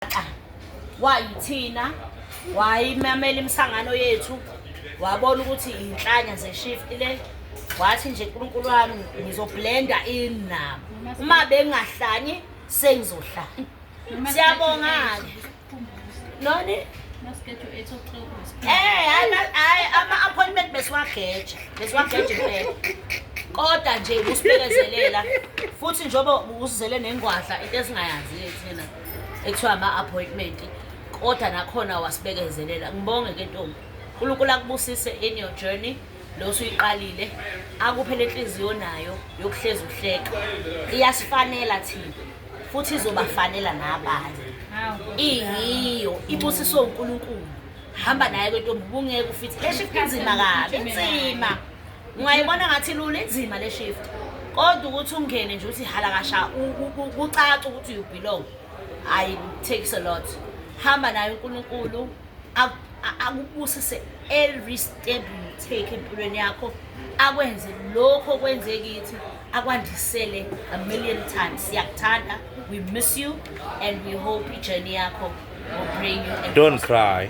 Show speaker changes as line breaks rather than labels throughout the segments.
wayigaxa wayithina wayimamela imisangano yethu wabona ukuthi inhlanya zeshift le wathi nje uNkulunkulu wami ngizoblenda inabo uma bengahlanyi sengizohlanya siyabonga ke noni Eh hayi ama appointment besiwageje besiwageje phela kodwa nje usibekezelela futhi njengoba uzizele nengwadla into esingayazi thina ekuthiwa ama-appointment kodwa nakhona wasibekezelela ngibonge ke ntombi unkulunkulu akubusise in your journey lo suyiqalile akuphe le nhliziyo nayo yokuhlezi uhleka iyasifanela thina futhi izobafanela nabanye iyiyo ibusiswe unkulunkulu hamba naye kwentombi ubungeke ufithi eshifinzima kabi nzima Ungayibona ngathi lula inzima le shift. Kodwa ukuthi ungene nje uthi halakasha kucaca ukuthi you belong. I takes a lot. Hamba nayo uNkulunkulu akubusise every step you take empilweni yakho akwenze lokho kwenze kithi akwandisele a million times siyakuthanda we miss you and we hope ijourney yakho will bring you don't cry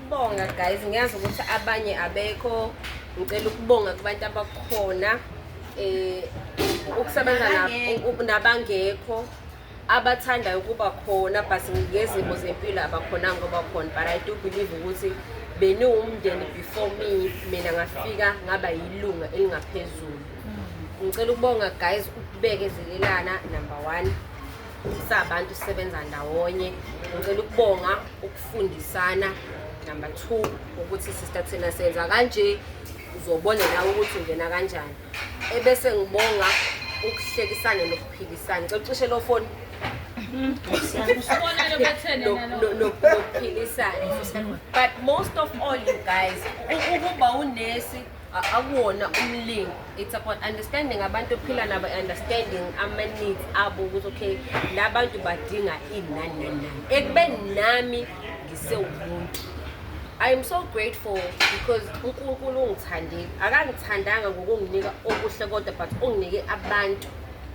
Bonga guys, ngiyazi ukuthi abanye abekho. Ngicela ukubonga kubantu abakhona eh ukusebenza nabangekho abathandayo ukuba khona but ngezimo zempilo abakhona ngoba khona but I do believe ukuthi beniwumndeni before me mina ngafika ngaba yilunga elingaphezulu mm. ngicela ukubonga guys ukubekezelelana number one sabantu sisebenza ndawonye ngicela ukubonga ukufundisana number two ukuthi sister thina senza kanje uzobona nawe ukuthi ungena kanjani ebese ngibonga ukuhlekisana nokuphikisana cela ucishe lo foni nokuphilisana but most of all you guys ukuba unesi akuwona umlingo it's about understanding abantu ophila nabo understanding ama-needs abo ukuthi okay la bantu badinga ini nani nani nani ekubeni nami ngisewumuntu i am so grateful because unkulunkulu ungithandile akangithandanga ngokunginika okuhle kodwa but unginike abantu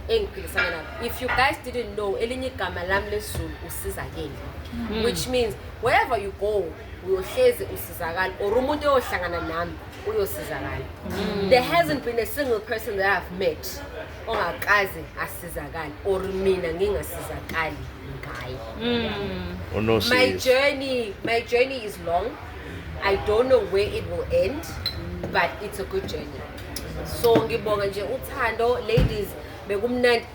engiphilisana nabo if you guys didn't know elinye igama lami lesizulu usizakele hmm. which means wherever you go uyohlezi usizakala or umuntu oyohlangana nami uyosizakala mm. there hasn't been a single person that i've met ongakaze asizakale or mina ngingasizakali ngaye mm. oh, my journey my journey is long i don't know where it will end but it's a good journey so ngibonga nje uthando ladies bekumnandi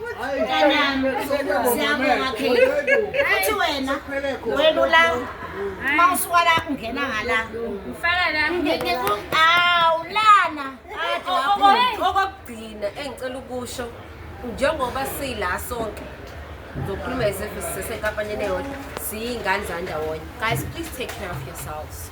Mntanami, siyabonga Kheli. Athi wena welula uma usuka la ungena ngala. Ngifaka la.
Awu lana.
Okokugcina
engicela ukusho njengoba sila sonke zokhuluma as if sisesenkampanini eyodwa siyiy'ngane zandawonye guys please take care of yourselves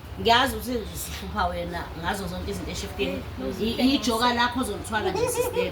ngiyazi ukuthi sihlupha wena ngazo zonke izinto eshifkeni ijoka lakho ozolithwala nje sister